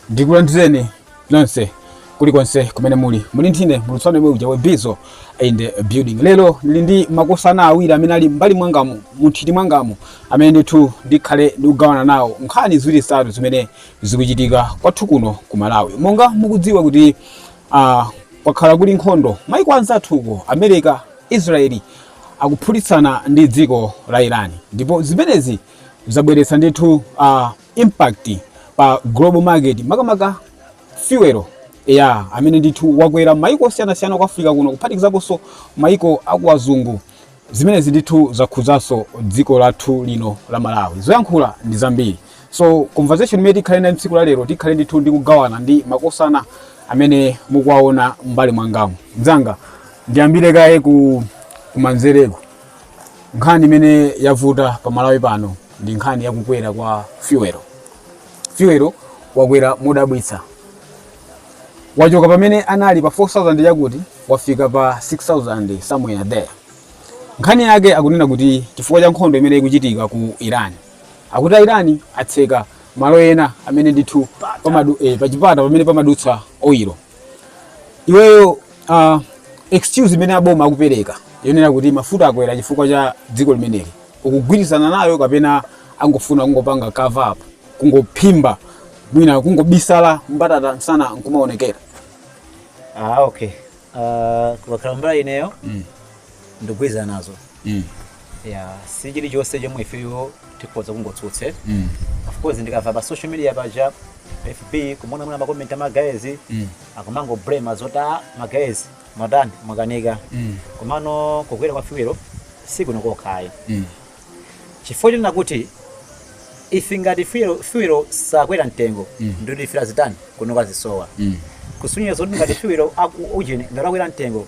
ndikulandireni nonse kulikonse kumene muli muli ndine muulutsi wanu yemwe uja webizo in the building lero ndili ndi makosana awiri amene ali mbali mwangamu munthiti mwangamu amene ndithu ndikhale ndikugawana nawo nkhani ziwiri zitatu zimene zikuchitika kwathu kuno ku malawi monga mukudziwa kuti uh, kwakhala kuli nkhondo maiko anzathuko america israeli akuphulitsana ndi dziko la irani ndipo zimenezi zabweretsa ndithu uh, impact pa global market makamaka fuel ya amene ndithu wakwera maiko osiyanasiyana ku africa kuno kuphatikizaponso maiko akuwazungu zimenezi ndithu zakhudzanso dziko lathu lino la malawi zoyankhula ndi zambiri so conversation imene tikhale nayo tsiku la lero tikhale ndithu ndikugawana ndi makosana amene mukuwaona mbali mwangamu mzanga ndiyambire kaye kumanzereko Nkhani imene yavuta pa Malawi pano ndi nkhani ya kukwera kwa fuel. Fuel wakwera modabwitsa, wachoka pamene anali pa 4000 yakuti wafika pa 6000 somewhere there. Nkhani yake akunena kuti chifukwa cha nkhondo imene ikuchitika ku Iran, akuti a Iran atseka malo ena amene ndithu pamadu, eh, pachipata pamene pamadutsa oil iweyo uh, excuse imene aboma akupereka yonena kuti mafuta akwera chifukwa cha dziko limeneli ukugwirizana nayo kapena angofuna kungopanga cover up kungophimba mwina kungobisala mbatata msana nkumaonekera ah okay uh, kukakhala mbali ineyo mm. ndikugwirizana nazo mm. ya si chilichonse chomwe ifeyo tikhoza kungotsutsa mm. of course ndikamva pa social media paja fb kumaona mwina makomenti a magayezi mm. akumangoblema zoti magayezi mwatani mwakanika mm. komano kukwera kwa fuel si kuno kokha ayi mm. chifukwa chonena kuti ife ngati fuel sakwera mtengo mm. ndiye kuti fuel azitani kunoko azisowa mm. kusonyeza zoti ngati fuel ujeni ngati akwera mtengo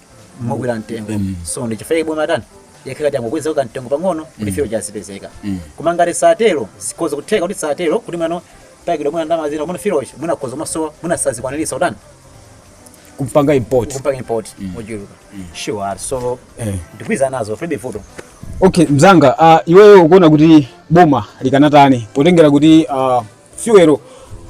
mokwera mtengo Mm. so ndichifukwa chake boma tani yakheka angokweza kamtengo pang'ono kuti fuel azipezeka Mm. koma ngati satero zikhoza kutheka kuti satero kuti mwina takidwa mwina ndalama zina mwina fuel mwina akhoza kumasowa mwina sazikwaniritsa kutani kumpanga import kupanga import mochuluka sure so Eh. ndikugwirizana nazo zilibe vuto okay mzanga uh, iweyo ukuona kuti boma likanatani potengera kuti uh, fuel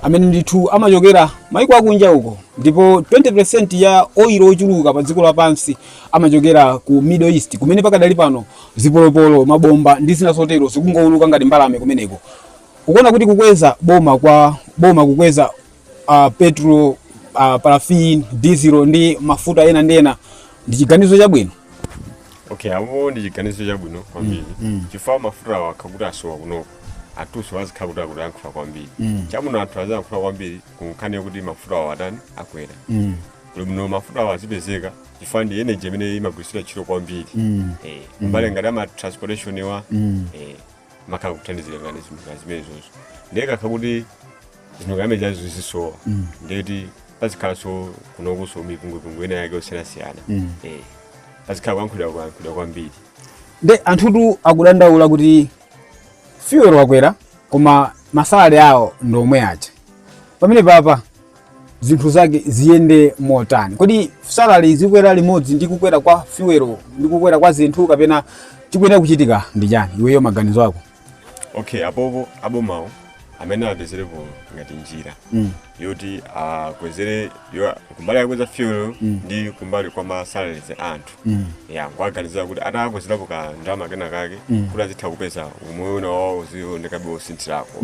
amene ndithu amachokera maiko akunja uko ndipo 20% ya oil ochuluka pa dziko lapansi amachokera ku middle east kumene pakadali pano zipolopolo mabomba ndi zina zotero zikungouluka ngati mbalame kumeneko ukuona kuti kukweza boma kwa boma kukweza uh, petrol uh, paraffin diesel ndi mafuta ena ndi ena ndi chiganizo chabwino okay apo ndi chiganizo chabwino kwambiri mm. chifukwa mafuta awo akakhala kuti asowa kunoko anthunso azikhala kuti akuyankhula kwambiri Mm. chabwino anthu aziyankhula kwambiri kunkhani yakuti mafuta awo atani akwera Mm. koma muno mafuta awo azipezeka chifukwa ndi energy imene imagwiritsa ntchito kwambiri Mm. Eh, kumbali ngati ama transportation wa Mm. eh, amakhala kuthandizira ngati zinthu ngati zimenezozo ndiye kukakhala kuti zinthu ngati zimenezo zizisowa Mm. ndiye kuti pazikhalanso kunokonso mipungwipungwe ina yake yosiyanasiyana Mm. Eh, pazikhala kuyankhulira kuyankhulira kwambiri nde anthutu akudandaula kuti fuel wakwera koma masalary awo ndi omwe aja pamene papa zinthu zake ziyende motani kodi salary zikwera limodzi ndi kukwera kwa fuel ndi kukwera kwa zinthu kapena chikuyenera kuchitika ndi chiyani iweyo maganizo ako okay apopo abomawo amene apezerepo ngati njira Mm. yoti akwezere yo- kumbali akweza fuel ndi kumbali kwa masalaries anthu Mm. ya nkuaganizira kuti atakwezerapo ka ndalama kena kake kuti azitha kupeza umoyo uja wawo uzionekabe wosinthirako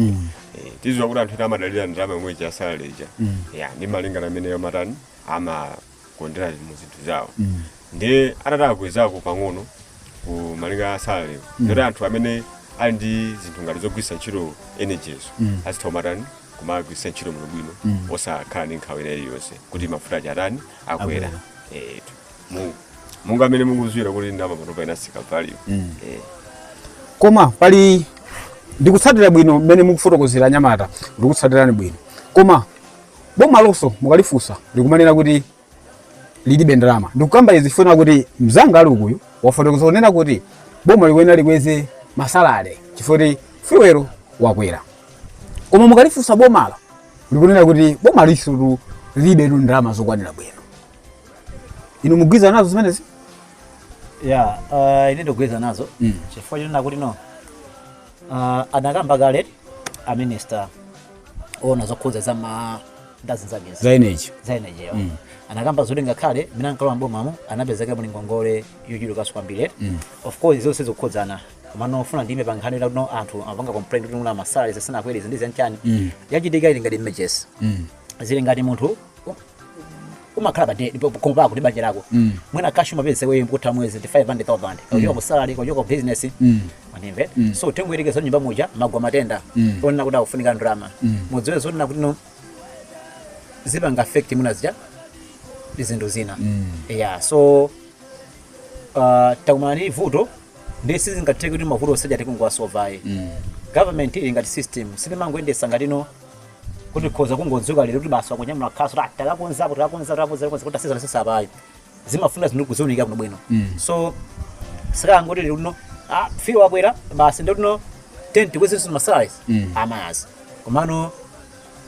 Eh, tidziwa kuti anthu ena amadalira ndalama yomwe ija salary ija Mm. ya ndi malingana mmene amatani amakonzera mu zinthu zawo Mm. nde atati akwezako pang'ono ku malinga a salary Mm. kuti anthu amene ali ndi zinthu ngati zogwiritsa ntchito energies Mm. azitha kumatani kumagwiritsa ntchito bwinobwino Mm. osakhala ndi nkhawa ina iliyonse kuti mafuta aja atani akwera Akwera. etu Mu- monga amene mukudziwira kuti ndalama panopa inatsika value koma pali ndikutsatira bwino mmene mukufotokozera anyamata ndikutsatirani bwino koma boma lonso mukalifunsa likumanena kuti lilibe ndalama ndikukamba izi chifukwa kuti mzanga ali ukuyu wafotokoza kunena kuti boma likuyenera likweze masalary chifukwa kuti fuel wakwera koma mukalifunsa bomalo likunena kuti boma nalonso lilibe ndalama zokwanira bwino inu mukugwirizana nazo zimenezi ya uh, ine ndikugwirizana nazo Mm. chifukwa chonena kuti no uh, anakamba kale a minister oona zokhudza za ma ndazi zagezi za energy za energy yo Mm. anakamba zoti ngakhale mmene ankalowa mbomamo anapezeka muli ngongole yochulukanso kwambiri Mm. of course zonse zikukhudzana komano ndimafuna ndiime pa nkhani kuti no anthu amapanga complain kuti mwina masalaries sanakwere ndi zanchani Mm. yachitika ili ngati images Mm. zili ngati munthu umakhala pa de- po- pomwe pako ndi banja lako Mm. mwina cash umapeza iweyo mkutha mwezi ndi 500000 kachoka ku salary kachoka ku business Mm. manimve Mm. so tingoyerekeza nyumba muja mwagwa matenda Mm. onena kuti akufunika ndalama Mm. mudziwe zonena kuti no zipanga affect mwina zija ndi zinthu zina Mm. yeah so uh, takumana ndi vuto nde sizingatheke kuti mavuto onse aja tingowasova ayi Mm. government ili ngati system silimangoyendetsa ngati no kuti khoza kungodzuka lero kuti basi wakunyamula khasu ta takakonzapo takakonza takakonza takakonza kuti asizana sisa apayi zimafuna zinthu kuziunika kuno bwino so sikangoti lero lino ah fuel wakwera basi ndiye no tiyeni tikwezenso masalaries Mm. amazi komano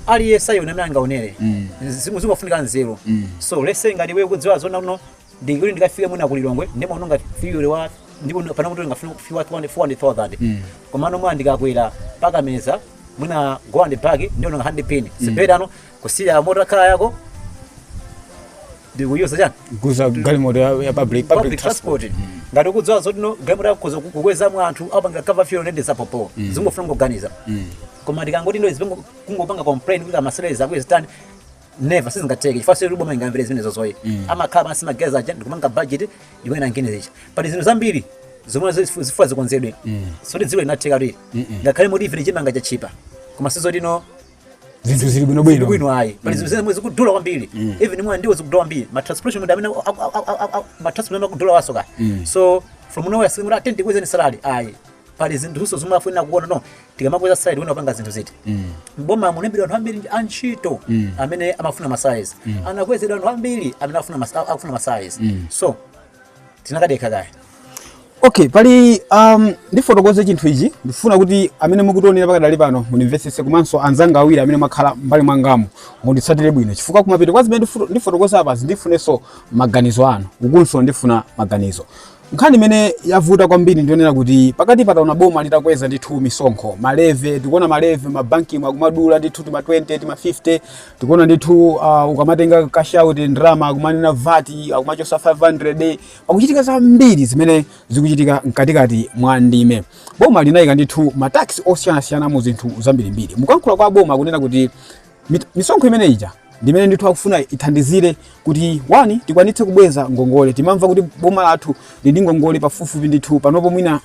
aliyense aona mmene angaonere Mm. Zimu- zimafunika nzeru Mm. so let's say ngati iwe ukudziwa zoti no ndingoti ndikafike mwina ku lilongwe ndimaononga fuel wa ndipo ndi- panopo tolinga fuel fuel wa 400,000 Mm. komano mwina ndikakwera mpaka meza mwina go and back ndiononga 100 pin si better no kusiya motor car yako ndikuyuza chani kuyuza galimoto ya ya public public transport ngati ukudziwa zoti no galimoto yako ukhoza kukwezamo anthu apanga cover fuel ndi zapopo zingofuna kuganiza koma ndikangoti ndo izipengo kungopanga complain kuti masalaries akwere stand never sizingatheke chifukwa sikuti boma lingamvere zimenezozo ayi mm. amakhala pansi mageza aja ndikumanga budget imene angene zicha pali zinthu zambiri zomwe zifu- zifuna zikonzedwe Mm. soti dziko linatheka lili Mm-mm. ngakhale moti ifene chimanga chatchipa koma si zoti no zinthu zili bwino bwino bwino ayi pali zinthu zomwe zikudula kwambiri even mwina ndiwo zikudula kwambiri ma transportation ndi amene aku- aku- aku- aku- aku- ma transportation akudula wasoka so from nowhere sikuti tiyeni tikwezeni salary ayi pali zinthuso zomwe afuna kuona no tikamakweza side wina kupanga zinthu ziti mboma munalembedwa anthu ambiri a ntchito amene amafuna masalaries anakwezedwa anthu ambiri amene afuna mas- akufuna masalaries so tinakadekha kaye okay pali um, ndifotokoze chinthu ichi ndifuna kuti amene mukutionera pakadali pano mundimvetsetse komanso anzanga awiri amene mwakhala mbali mwangamu munditsatire bwino chifukwa kumapeto kwa zimene ndifu- ndifotokoza apazi ndifunenso maganizo anu ukunso ndifuna maganizo Nkhani imene yavuta kwambiri ndiyonena kuti pakatipa taona boma litakweza ndithu misonkho malevy, tikuona malevy mabankimu akumadula ndithu tima 20 tima 50 tikuona ndithu uh, ukamatenga cash out ndalama akumanena VAT akumachotsa 500 pakuchitika zambiri zimene zikuchitika mkatikati mwa ndime. Boma linayika ndithu matax osiyanasiyana mu zinthu zambirimbiri. Mukuyankhula kwa boma kunena kuti Mit- misonkho imene ija ndimene ndithu akufuna ithandizire kuti one tikwanitse kubweza ngongole timamva kuti boma lathu lili ndi ngongole pafupifupi ndithu panopo mwina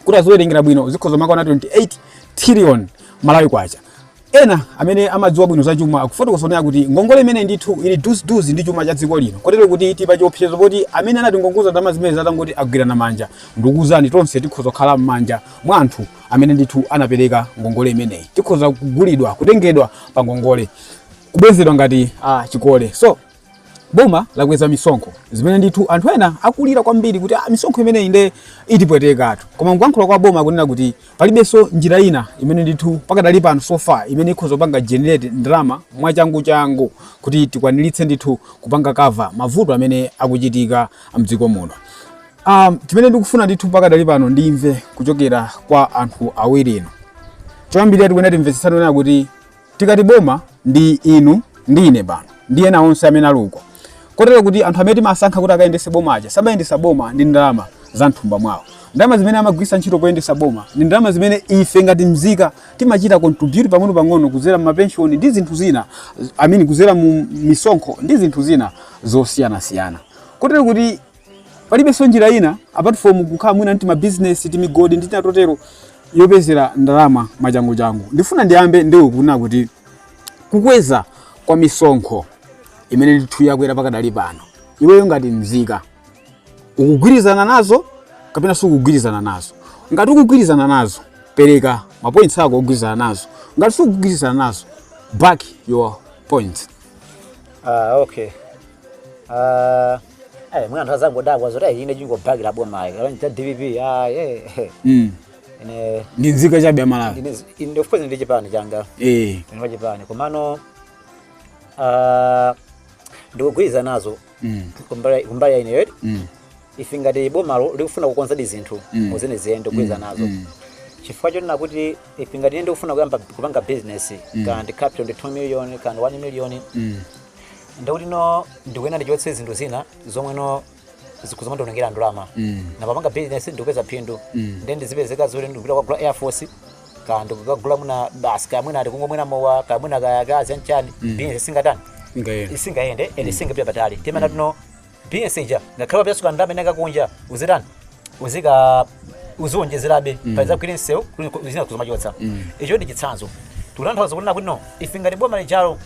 kuti aziwerengera bwino zikhoza kumakwana 28 trillion malawi kwacha ena amene amadziwa bwino za chuma akufotokoza zonena kuti ngongole imene ndithu ili duziduzi ndi chuma cha dziko lino kotero kuti tili pa chiopsezo poti amene anatingongoza ndalama zimenezi atangoti agwirana manja ndikuuzani tonse tikhoza kukhala m'manja mwa anthu amene ndithu anapereka ngongole imeneyi tikhoza kugulidwa kutengedwa pa ngongole kubwezedwa ngati ah, chikole so boma lakweza misonkho zimene ndithu anthu ena akulira kwambiri kuti ah, misonkho imeneyi nde itipwetekatu koma mkuyankhula kwa boma akunena kuti palibenso njira ina imene ndithu pakadali pano so far imene ikhoza kupanga generate ndalama mwachanguchangu kuti tikwaniritse ndithu kupanga cover mavuto amene akuchitika mdziko muno Um, chimene ndikufuna ndithu pakadali pano ndimve kuchokera kwa anthu awiri inu choyambirira tikuyenera timvetsetsane onena kuti tikati boma ndi inu ndi ine pano ndi ena onse amene ali uko kotero kuti anthu amene timasankha kuti akayendese boma aja samayendesa boma ndi ndalama za mthumba mwawo ndalama zimene amagwisa ntchito poyendesa boma ndi ndalama zimene ife ngati mzika timachita contribute pang'ono pang'ono kuzera mumapenshoni ndi zinthu zina I mean kuzera mu misonkho ndi zinthu zina zosiyanasiyana kotero kuti palibenso njira ina apart from kukhala mwina ndi mabizinesi timigodi ndi tina totero yopezera ndalama machanguchangu ndifuna ndiyambe ndi iwe kunena kuti kukweza kwa misonkho imene ndithu yakwera pakadali pano iweyo ngati mzika ukugwirizana nazo kapena sukugwirizana nazo ngati ukugwirizana nazo pereka mapoints ako ogwirizana nazo ngati sukugwirizana nazo back your points Ah, okay. Ah, eh, mwina anthu azangodabwa zoti ayi ine ndingobhakira boma ayi. Kalo cha DPP. Ah, eh. eh. Mm. Ine Ndi nzika chabe ya Malawi. ine ine of course ndili ndi chipani changa. Eh. Ine wa chipani. Komano ah ndikugwirizana nazo Mm. kumbali kumbali ya ineyodi. Mm. ife ngati bomalo likufuna kukonzadi zinthu Mm. muzene ziyende kugwiza Mm, nazo mm. chifukwa chonena kuti if ngati ine ndikufuna kuyamba kupanga business Mm. kaya ndi capital ndi 2 million kaya 1 million Mm. ndikuti no ndikuyenda ndichotse zinthu zina zomwe no zikuzomandionongera ndalama Mm. napapanga business ndikupeza phindu Mm. then ndizipezeka zoti ndikupita kwagula air force kaya ndikukagula mwina basi kaya mwina ati kumwa mwina mowa kaya mwina kaya akazi anchani Mm. business singatani Singayende. isingayende and isingapita patali timena ti no business ija ngakhale wapezaso ndalama inayake kunja uzitani uziika uziwonjezerabe mm. paiza kugwira msewu kuti zina kuzomachotsa mm. icho ndi chitsanzo tikutanthauza kunena kuti no ife ngati boma lijalo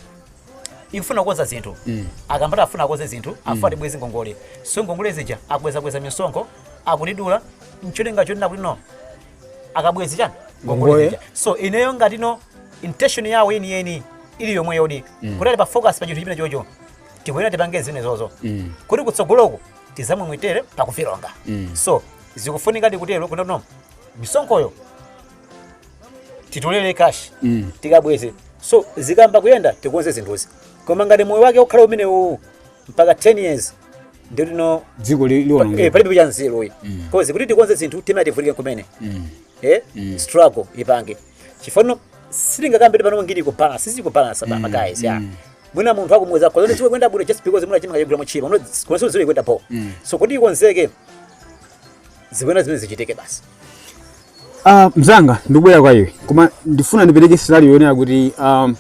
ikufuna kukonza zinthu mm. akambati afuna akonze zinthu afuna mm. tibweze ngongole so ngongole zija akukwezakweza misonkho akutidula ncholinga chonena kuti no akabweze chani ngongole Ngongole. zija so ineyo ngati no intention yawo yeniyeni ili yomweyodi mm. kuti ali pa focus pa chinthu chimenechocho tikuyenera tipange zimenezozo Mm. kuti kutsogoloku tizamwemwetere pa Covid longer Mm. so zikufunika tikutero kuti no misonkhoyo titolere cash Mm. tikabweze so zikayamba kuyenda tikonze zinthuzi koma ngati moyo wake ukhala umene uwu mpaka 10 years ndikuti no dziko li- eh, liwonongeka palibe cha nzeru uyi Mm. cause kuti tikonze zinthu timayenera tivutike kumene Mm. eh Mm. struggle ipange chifano silingakambe pano ngiri kubalance sizikubalance ba Mm, guys ya mm. mwina munthu akumuweza kwa zone siwe kwenda bure just because muna chimanga yegura muchiro no kuna siwe ziwe kwenda po mm. so kuti ikonzeke zikwena zimene zichitike basi uh, mzanga ndikubwera kwa iwe koma ndifuna ndipereke scenario yonena kuti um,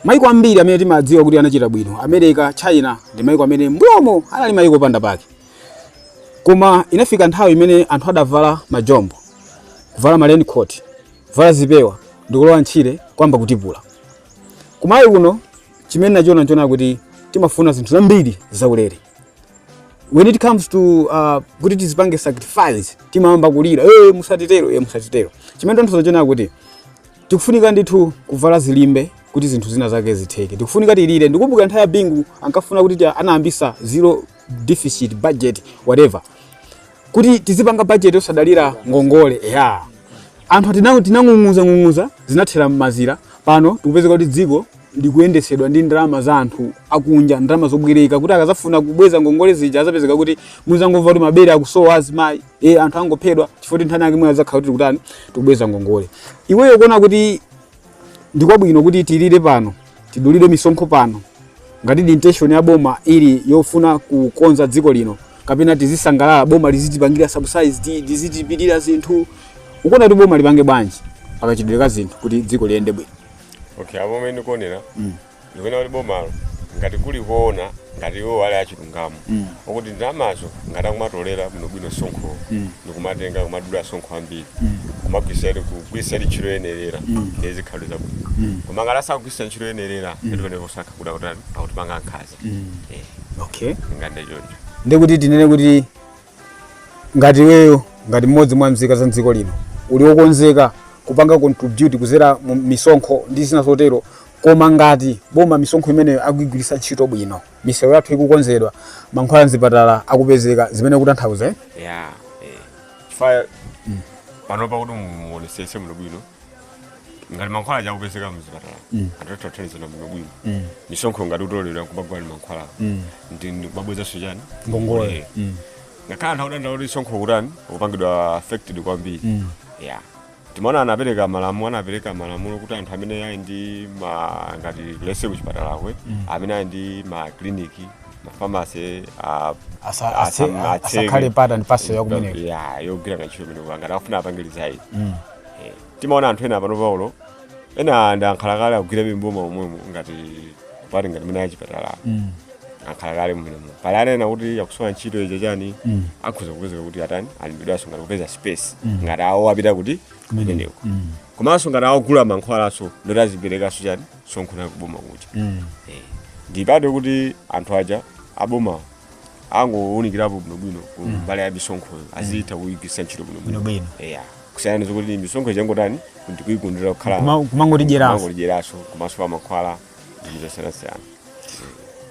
maiko ambiri amene timadziwa kuti anachita bwino america china ndi maiko amene mbuyomo anali maiko panda pake koma inafika nthawi imene anthu adavala majombo kuvala ma raincoat kuvala zipewa ndikulowa ntchire kuyamba kutipula Kumalawi kuno chimene nachiona n'chonena kuti timafuna zinthu zambiri zaulere when it comes to uh, kuti tizipange sacrifice timayamba kulira hey, musatitero hey, musatitero chimene tingathe kuona kuti tikufunika ndithu kuvala zilimbe kuti zinthu zina zake zitheke tikufunika tilire ndikumbukira nthawi ya bingu ankafuna kuti anayambisa zero deficit budget whatever kuti tizipanga bajeti yosadalira ngongole eya anthu atinango tinang'ung'uza ng'ung'uza zinathera m'mazira pano tikupezeka kuti dziko likuyendesedwa ndi ndalama za anthu akunja ndalama zobwereka kuti akazafuna kubweza ngongole zija azapezeka kuti muzangomva kuti mabere akusowa azimayi e anthu angophedwa chifukwa choti nthawi imeneyo azakhala kuti tikutani tikubweza ngongole iweyo ukuona kuti ndikwabwino kuti tilire pano tidulidwe misonkho pano ngati intention ya boma ili yofuna kukonza dziko lino kapena tizisangalala boma lizitipangira subsidy lizitilipirira zinthu ukuona kuti boma lipange bwanji pakachitidwe ka zinthu kuti dziko liyende bwino okay apo mmene ndikuonera ndikunena kuti bomalo ngati kuli kuona ngati iwo ali achilungamo Mm. okuti ndalamazo ngati akumatolera bwinobwino msonkhowo Mm. ndikumatenga kumadula msonkho wambiri Mm. kumagwirisa kugwirisa ntchito yoyenerera Mm. ndiye zikhale zabwino Mm. koma ngati asakugwirisa ntchito yoyenerera ndikuoneka kusakha kuda kuti akutipanga nkhaza Mm. Eh, okay ndingande choncho ndikuti tinene kuti ngati iweyo ngati mmodzi mwa mzika za mdziko lino uli wokonzeka kupanga contribute kuzera mu misonkho ndi zina zotero koma ngati boma misonkho imeneyo akuigwiritsa ntchito bwino misewu yathu ikukonzedwa mankhwala mzipatala akupezeka zimene ukutanthauza eh? ya eh. chifukwa panopa kuti muonesese muno bwino ngati mankhwala sakupezeka muzipatala mm. atathathanizana bwino bwino mm. misonkho ngati akutolera kumagula mankhwala mm. ndi ndi kumabwezaso chani Ngongole. Eh. Mm. ngakhale anthu akudandaula kuti msonkho kutani kupangidwa affected kwambiri Mm. yeah timaona anapereka malamulo anapereka malamulo kuti anthu amene ali ndi ma ngati lese kuchipatalako amene ali ndi ma clinic ma pharmacy a Asa- ase- asam- atseke. asakhale part and parcel ya kumeneko. Yeah, yogwira ntchito kumeneko ngati akufuna apange resign timaona anthu ena pano paulo ena ndi ankhalakale akugwira m'boma umwemo ngati pati ngati mene achipatala Mm. ankhalakale mmenemo pali ana ena kuti akusowa ntchito icho chani Mm. akhoza kupezeka kuti atani alembedwanso ngati kupeza space Mm. ngati awo apita kuti kumeneko Mm. komanso ngati awagula mankhwalanso ndoti aziperekanso chani msonkho kuboma kuja Mm. ndipate kuti anthu aja abomawo angounikirapo bwinobwino Mm. kumbali ya misonkhoyo azitha kuyigwiritsa ntchito bwinobwino bwinobwino eya kusiyana zokuti misonkho ichangotani kuti kuyigundira kukhala Kuma- kumangotidyeraso. kumangotidyeraso komanso pa mankhwala ndi zosiyanasiyana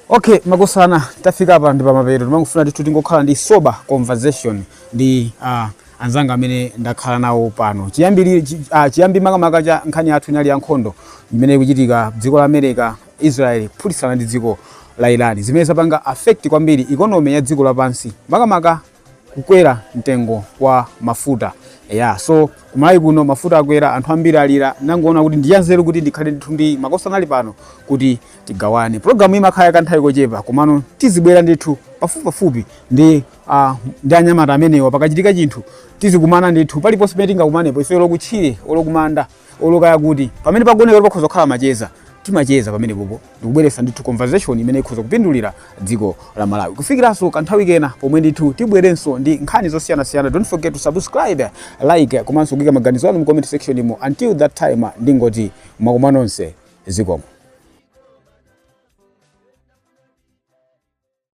okay makosana tafika apa ndi pamapeto timangofuna ndithu tingokhala ndi sober conversation ndi uh, anzanga amene ndakhala nawo pano chiyambiri chi- ah, chiyambi makamaka cha nkhani yathu inali ya nkhondo imene ikuchitika dziko la america Israel kuphulitsana ndi dziko la Iran zimene zapanga affect kwambiri economy ya dziko lapansi makamaka kukwera mtengo kwa mafuta ya so kumalawi kuno mafuta akwera anthu ambiri alira nangoona kuti ndiyanzeru kuti ndikhale ndithu ndi makosana ali pano kuti tigawane programu imakhala yakanthawi kochepa komano tizibwera ndithu pafupipafupi ndi uh, ndi anyamata amenewa pakachitika chinthu tizikumana ndithu paliponse pamene tingakumanepo ife olokutchire olokumanda olo kaya kuti pamene pakuoneka kuti pakhoza kukhala macheza timacheza pamenepopo ndikubweretsa ndithu conversation imene ikhoza kupindulira dziko la malawi kufikiranso kanthawi kena pomwe ndithu tibwerenso ndi nkhani zosiyanasiyana don't forget to subscribe like komanso kuika maganizo anu mu comment section imo until that time ndingoti mwakoma nonse zikomo